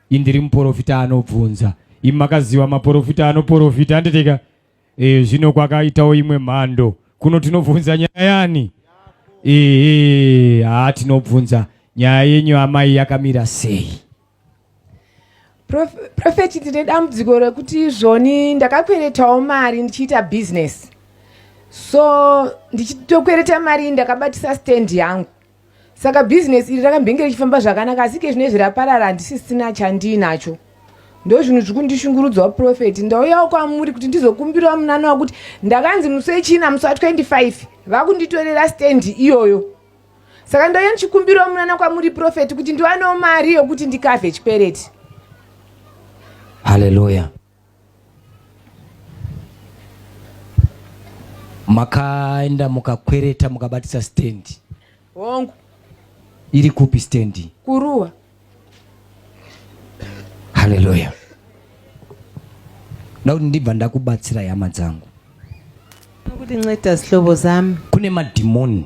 indiri muporofita anobvunza imi makaziva maporofita anoporofita handitika e, zvino kwakaitawo imwe mhando kuno tinobvunza nyaya yani ehe haa tinobvunza nyaya yenyu amai yakamira sei Prophet ndine dambudziko rekuti izvoni ndakakweretawo mari ndichiita business so ndichitokwereta mari ndakabatisa stand yangu saka business iri rakambenge richifamba zvakanaka asi ke zvinezvi raparara handisisina chandiinacho ndo zvinhu zviri kundishungurudzawo profeti ndauyawo kwamuri kuti ndizokumbirawo munana wakuti ndakanzi musi wechina musi wa 25 vakunditorera stand iyoyo saka ndaiye ndichikumbirawo munana kwamuri profeti kuti ndiwanewo mari yokuti ndikavhe chikwereti haleluya makaenda mukakwereta mukabatisa stendi hongu iri kupi stendi kuruwa haleluya ndakuti ndibva ndakubatsira hama dzangu kuti nceda zihlobo zami kune madhimoni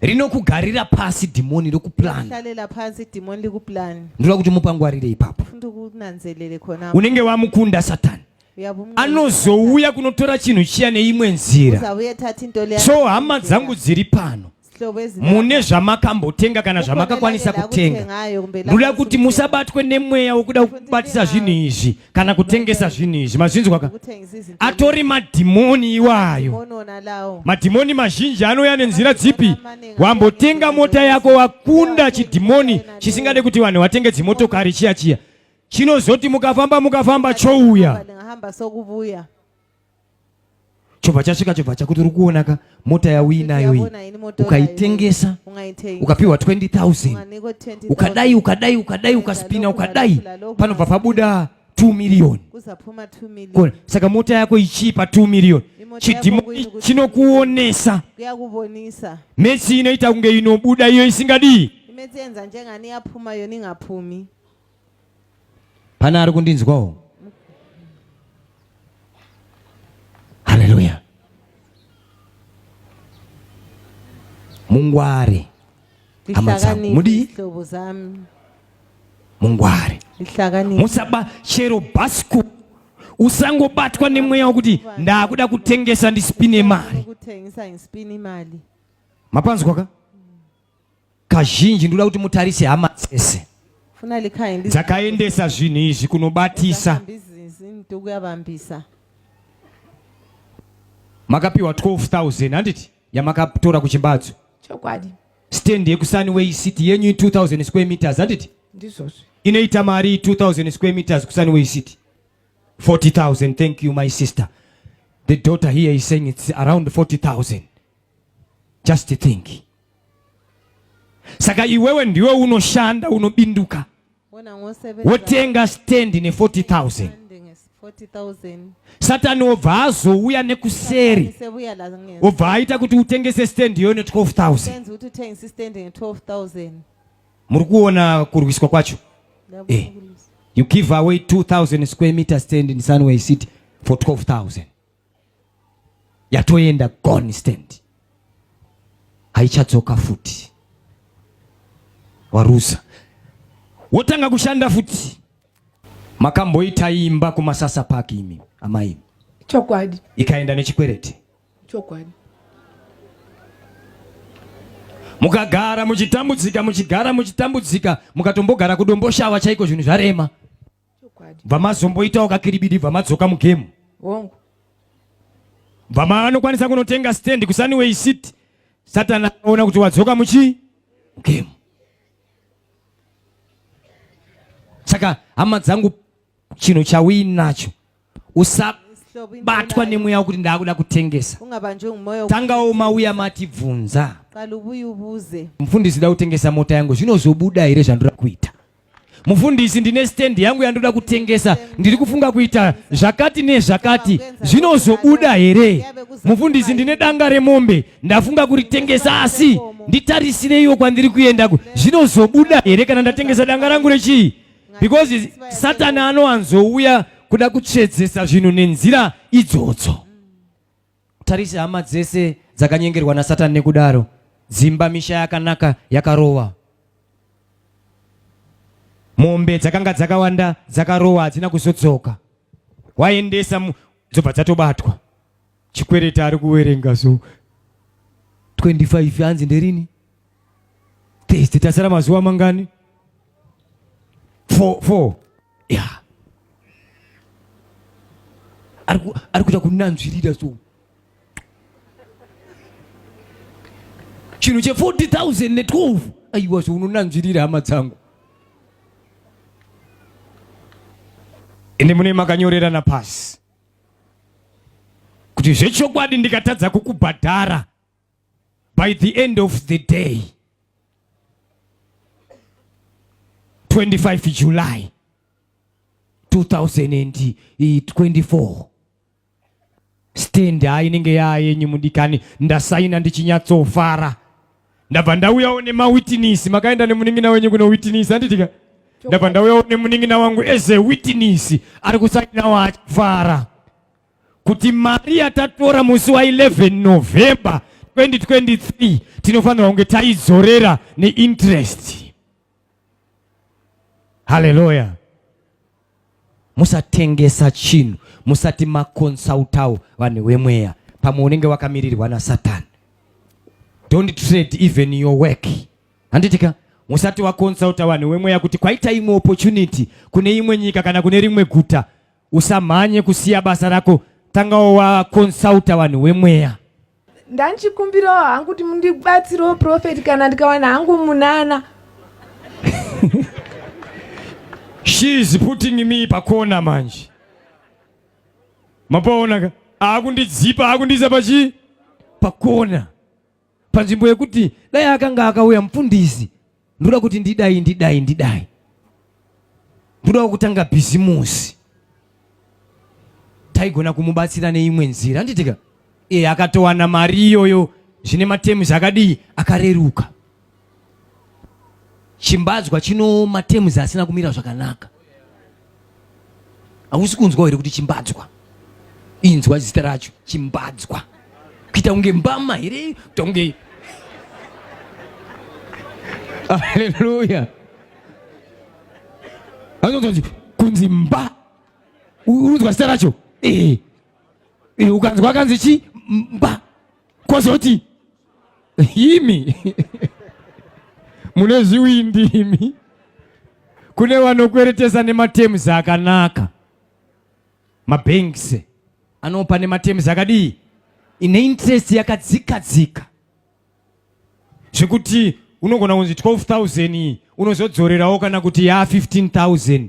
rinokugarira pasi dhimoni rikuplanahlalela pasi dhimoni rikuplani ndinoda kuti mupangwarire ipapo ndikunanzelele khona unenge wamukunda satani anozouya kunotora chinhu chiya neimwe nzira so hama dzangu dziri pano mune zvamakambotenga kana zvamakakwanisa kutenga ndoda kuti musabatwe nemweya wokuda kubatisa zvinhu izvi kana kutengesa zvinhu izvi mazvinzwa ka atori madhimoni iwayo madhimoni mazhinji anouya nenzira dzipi wambotenga mota yako wakunda chidhimoni chisingade kuti vanhu vatenge dzimotokari chiya chiya chinozoti mukafamba mukafamba chouya chobva chasvika chobva chakuti uri kuona ka mota yauinayo iyi ukaitengesa ukapiwa 20000 ukadai ukadai ukadai ukaspina ukadai panobva pabuda 2 miriyoni saka mota yako ichipa 2 miriyoni chidhimo chinokuonesa metsi inoita kunge inobuda iyo isingadii imetsi yenza njengani yapuma yoni ngapumi Pane ari kundinzwawo? Haleluya. Mungware hama dzangu, mudii? Mungware musaba chero bhasiko usangobatwa nemweya wekuti ndakuda kutengesa ndisipine mari mapanzwa ka kazhinji ndoda kuti mutarise hama dzese dzakaendesa zvinhu izvi kunobatisa makapiwa 12000 handiti yamakatora kuchimbadzo chokwadi stand yekusani way city yenyu 2000 square meters handiti ndizvozvo inoita mari 2000 square meters kusani way city 40000 thank you my sister the daughter here is saying it's around 40000 just think Saka iwewe ndiwe unoshanda unobinduka wotenga stand ne 40000 satani obva azouya nekuseri obva aita kuti utengese stand iyoyo ne 12000 muri kuona kurwiswa kwacho eh. you give away 2000 square meter stand in sunway city for 12000 yatoenda gone stand haichadzoka futi waruza wotanga kushanda futi makamboita imba kumasasa park imi amai chokwadi ikaenda nechikwereti chokwadi mukagara muchitambudzika muchigara muchitambudzika mukatombogara kudomboshava chaiko zvinhu zvarema bva mazomboitawo kakiribidi bva madzoka mugemu hongu bva maanokwanisa kunotenga stand kusaniway city satani aona kuti wadzoka muchii mugemu saka hama dzangu chinhu chauinacho usabatwa nemweya wekuti ndaakuda kutengesa tangawo umauya matibvunza mufundisi da kutengesa mota yangu zvinozobuda here zvandoda kuita mufundisi ndine stendi yangu yandoda kutengesa ndiri kufunga kuita zvakati nezvakati zvinozobuda here mufundisi ndine danga remombe ndafunga kuritengesa asi nditarisireiwo kwandiri kuenda zvinozobuda here kana ndatengesa danga rangu rechii because satani anowanzouya kuda kutsvedzesa zvinhu nenzira idzodzo tarise hama dzese dzakanyengerwa nasatani nekudaro dzimba misha yakanaka yakarowa mombe dzakanga dzakawanda dzakarowa hadzina kuzodzoka waendesa dzobva dzatobatwa chikwereta ari kuwerenga so 25 anzi nderini test tasara mazuva mangani four, four. Yeah. ari kuita kunanzvirira so chinhu che 40000 ne 12 aiwa so unonanzvirira hama dzangu ende mune makanyorerana pasi kuti zvechokwadi ndikatadza kukubhadhara by the end of the day 25 July 2024 stand hainenge yaa yenyu mudikani ndasaina ndichinyatsofara ndabva ndauyawo nemawitinisi makaenda nemunin'ina wenyu kuno witinisi handitika ndabva ndauyawo nemunin'ina wangu as a witinisi ari kusainawo achifara kuti mari yatatora musi wa 11 November 2023 tinofanirwa kunge taidzorera neinterest. Haleluya! Musatengesa chinhu, musati makonsautawo vanhu vemweya, pamwe unenge wakamirirwa naSatani. Don't trade even your work. Handitika musati wakonsulta vanhu wemweya kuti kwaita imwe opportunity kune imwe nyika kana kune rimwe guta usamhanye kusiya basa rako tanga wakonsulta vanhu wemweya ndanchikumbirawo hangu kuti mundibatsirewo profeti kana ndikawana hangu munana she is putting me pakona manje mapaonaka aakundidzipa aakundiisa pachi pakona panzvimbo yekuti dai akanga akauya mupfundisi ndoda kuti ndidai ndidai ndidai ndoda kutanga bhizimusi taigona kumubatsira neimwe nzira anditika e akatowana mari iyoyo zvine matemuzi akadii akareruka Chimbadzwa chinooma terms asina kumira zvakanaka. Hausi kunzwa here kuti chimbadzwa? Inzwa zita racho chimbadzwa. Kuita kunge mbama here? Kuita kunge Haleluya. Anozonzi kunzi mba. Unzwa zita racho? Eh. eh ukanzwa kanzi chi mba. Kwazoti imi mune zviwindi imi kune vanokweretesa nematems akanaka mabanks anopa nematems akadii ine interest yakadzika dzika zvekuti unogona kunzi 12000 unozodzorerawo kana kuti ya 15000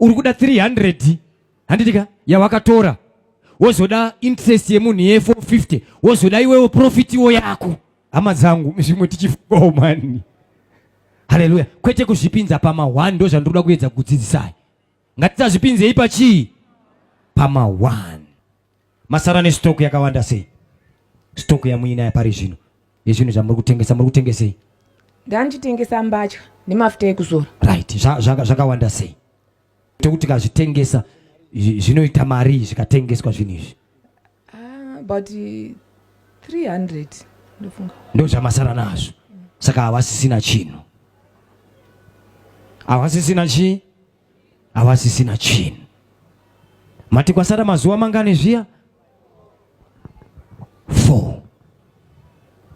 uri kuda 300 handitika yawakatora wozoda interest yemunhu ye 450 wozoda iwewo profit wo yako hama dzangu zvimwe tichifungawo mani haleluya kwete kuzvipinza pamahwani ndo zvandinoda kuedza kudzidzisai ngatisazvipinzei pachii pamahwani Masara nestock yakawanda sei? Stock yamuinayo pari zvino yezvinhu zvamuri kutengesa muri kutengesei? Ndandichitengesa mbatya nemafuta ekuzora. Right, zvakawanda sei? Tekuti kazvitengesa zvinoita mari zvikatengeswa zvinhu izvi? Ah, but 300 ndofunga. Ndozvamasara nazvo. Saka havasisina chinhu. Havasisina chii? havasisina chinhu. Mati kwasara mazuva mangani zviya? Four.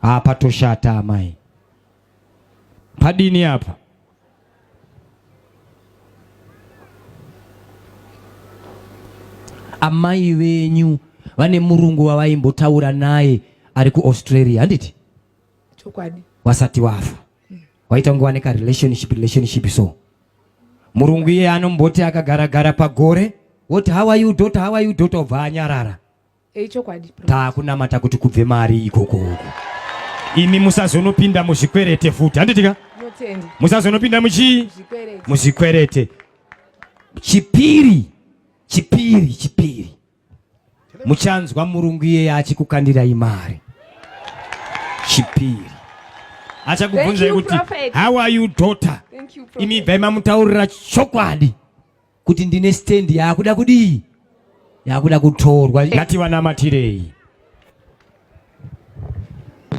Haa patoshata amai. Padini apa? Amai venyu vane murungu wavaimbotaura naye ari kuAustralia handiti? chokwadi wasati wafa waita kunge waneka relationship relationship so murungu iye anomboti akagara gara pagore woti how are you daughter how are you daughter obva anyarara hey, eh, chokwadi taakunamata kuti kubve mari ikoko uku imi musazonopinda muzvikwerete futi handitika musazonopinda muchii muzvikwerete chipiri chipiri chipiri muchanzwa murungu iyeye achikukandirai mari chipiri achakubvunzai kuti how are you daughter imi ibvai mamutaurira chokwadi kuti ndine stand yaakuda kudii yaakuda kutorwa ngati vanamatirei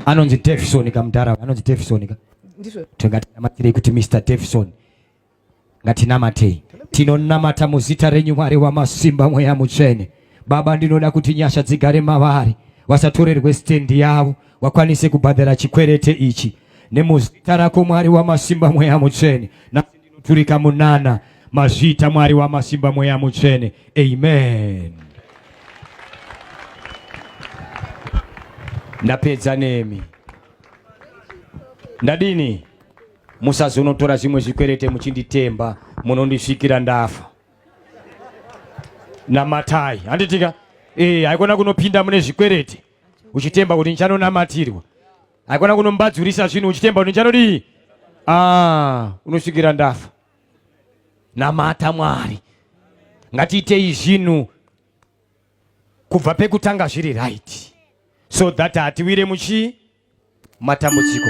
anonzi tefison ka mudhara anonzi tefison ka tingatinamatirei kuti mr tefison Ngatinamatei. Tinonamata muzita renyu Mwari wamasimba mweya mutsvene. Baba ndinoda kuti nyasha dzigare mavari. Vasatorerwe stand yavo. Vakwanise kubhadhara chikwerete ichi. Nemuzita rako Mwari wamasimba mweya mutsvene. Nasi ndinoturika munana. Mazvita Mwari wamasimba mweya mutsvene. Amen. Ndapedza nemi. Ndadini? musazonotora zvimwe zvikwerete muchinditemba munondisvikira ndafa namatai handitika ee eh, haikona kunopinda mune zvikwerete uchitemba kuti ndichanonamatirwa haikona kunombadzurisa zvinhu uchitemba kuti ndichanodii ah, unosvikira ndafa namata mwari ngatiitei zvinhu kubva pekutanga zviri right so that hatiwire muchii matambudziko